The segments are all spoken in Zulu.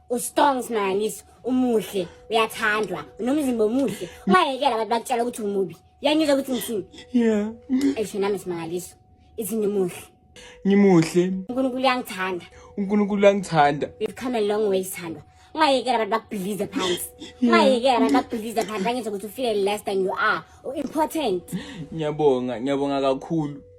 ustrong smangaliso umuhle uyathandwa unomzimba omuhle ungayekela abantu bakutshela ukuthi umubi uyangizwa ukuthi ngithini yeah esho nami simangaliso ithi ngimuhle ngimuhle unkulunkulu uyangithanda unkulunkulu uyangithanda we've come a long way sithandwa ungayekela abantu bakubhilize phansi ungayekela abantu bakubhilize phansi angizwa ukuthi ufile less than you are u-important ngiyabonga ngiyabonga kakhulu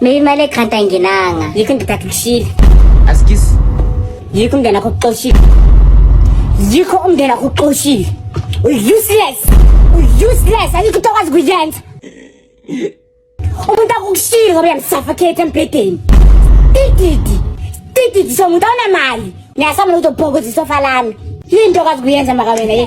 Mina imali egrant ayingenanga. Yikho ngithatha kushile. Askis. Yikho umndeni wakho uxoshile. Yikho umndeni wakho uxoshile. Useless. Useless. Ayikho into okwazi kuyenza. umuntu akukushilo ngoba uyamsuffocate embhedeni tididi tididi somuntu awunamali ngiyasamula ukuthi ubhokoza isofa lami yinto kazi kuyenza maka wena ye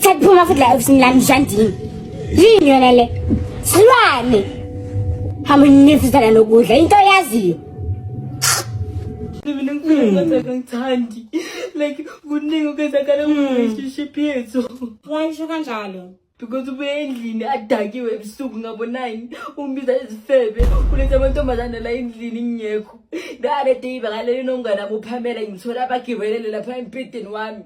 Saphuma futhi la ofisini lami njandini. Yini yona le? Silwane. Hamba nifuzana nokudla into yaziyo. Mina ngifuna ngithandi. Like kuningi okwenzakala ku relationship yethu. Wayisho kanjalo. because ubuye endlini adakiwe ebusuku ngabo nine ungibiza izifebe uletha amantombazane la endlini ngingekho the other day bakalele nomngane ami uphamela ngithola abagibelele lapha embhedeni wami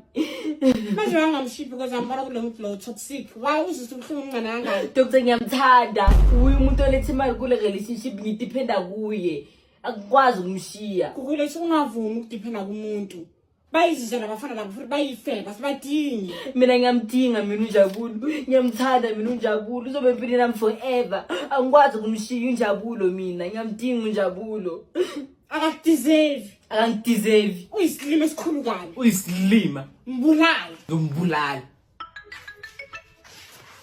manje wangamshiphi because ambona kulo muntu lo toxic why uzisa ubuhlungu umncane kangaka dr ngiyamthanda uye umuntu oletha imali kule relationship ngidiphenda kuye akukwazi ukumshiya kukulethi ungavumi ukudiphenda kumuntu bayizizwe nabafana labo futhi bayifeba sibadingi mina ngiyamdinga mina unjabulo ngiyamthanda mina unjabulo uzobe empileni nami forever angikwazi ukumshiya unjabulo mina ngiyamdinga unjabulo akakudeserve akangideserve uyisilima esikhulu kabi uyisilima mbulala ngimbulala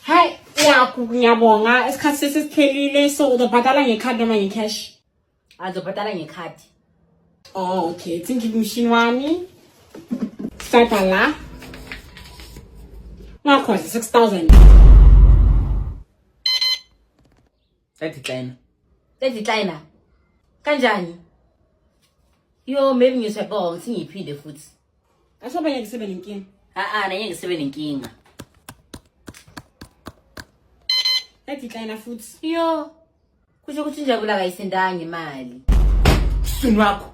hayi yakho ngiyabonga isikhathi sesesiphelile so uzobhadala ngekhadi noma ngecash azobhadala ngekhadi oh okay thinki kumshini wami sithatha la ngakhona 6000 Edecline. Edecline. Kanjani? Yo maybe ngizwe bo ngithi ngiphinde futhi. Asho abanye ngisebenza inkinga. A a nanye ngisebenza inkinga. Edecline futhi. Yo. Kusho ukuthi njabula kayisendangi imali. Sunu wakho.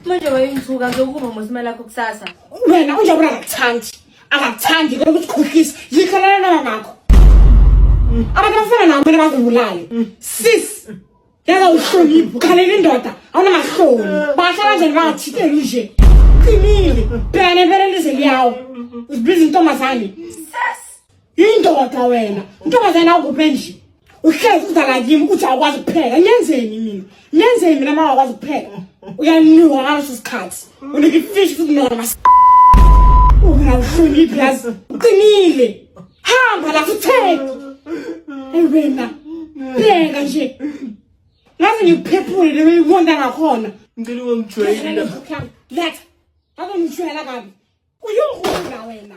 Manje wayengithuka ngizokuba ngosima lakho kusasa. Wena unje ubona ngakuthandi. Akakuthandi kodwa ukuthi khohlisa. Yikho lana lana nakho. Abantu bafana nawe mina bakubulale. Sis. Yaza uhlonipho. Khalela indoda. Awuna mahloni. Basha kanjani bathi ke nje. Qinile. Bhekane phela lize liyawo. Uzibiza intombazane. Sis. Indoda wena, intombazana awukuphi endlini. Uhlezi uza la kimi uthi awukwazi kupheka. Ngenzeni mina? Ngenzeni mina mama akwazi kupheka? Uyanuka ngaleso sikhathi. Unika ifish futhi noma mas. Ungawuhloniphi yazi. Uqinile. Hamba la futhi. Hey wena. Pheka nje. Ngaze ngiphephule leyo ikonda ngakhona. Ngicela ungangijwayeli la. Letha. Akungijwayela kabi. Uyongula wena.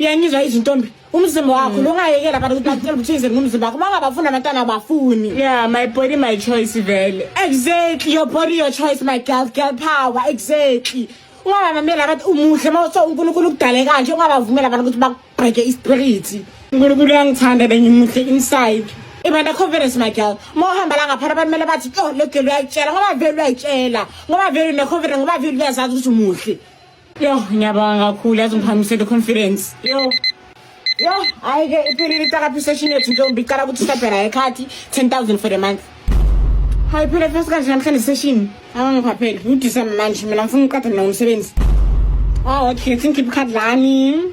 uyangizwa izintombi umzimba wakho lungayekela abantu ukuthi bakutshela ukuthi ize ngumzimba wakho bangabafuni abantwana abafuni yeah my body my choice vele exactly your body your choice my girl girl power exactly ungabamamela abathi umuhle uma so unkulunkulu ukudale kanje ungabavumela abantu ukuthi bakubheke ispirit unkulunkulu uyangithanda bengimuhle inside ibanda confidence my girl uma uhamba la ngaphana abantu kumele bathi oh le girl uyayitshela ngoba vele uyayitshela ngoba vele une-confidence ngoba vele uyazazi ukuthi umuhle Yo, ngiyabonga kakhulu yazi ngiphakamisele confidence. Yo. Yo, hayi ke iphelile itakapi session yethu ntombi iqala ukuthi sabhela ekhathi 10000 for the month. Hayi phela first kanje namhlanje session. Awangikho phela. Ngidisa manje mina ngifuna uqatha mina umsebenzi. Oh, okay, thank you Khadlani.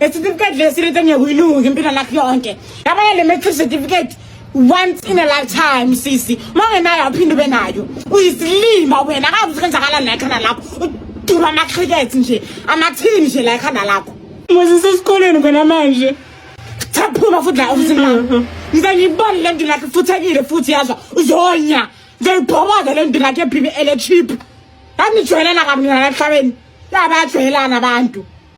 Isitifiketi lesi lento engekuyilungi impilo lakho yonke. Yabona le matric certificate once in a lifetime sisi. Uma ungenayo awuphinde ube nayo. Uyisilima wena akakuthi kwenzakala la ekhanda lakho. Udula ama-cricket nje, amathini nje la ekhanda lakho. Mose sesikoleni khona manje. Saphuma futhi la ofisini lami. Ngize ngibone le nto lakhe futhekile futhi yazwa uzonya. Ngiyibhoboza le nto lakhe ephile ele cheap. Anijwayelana kabi nina emhlabeni. Yabajwayelana abantu.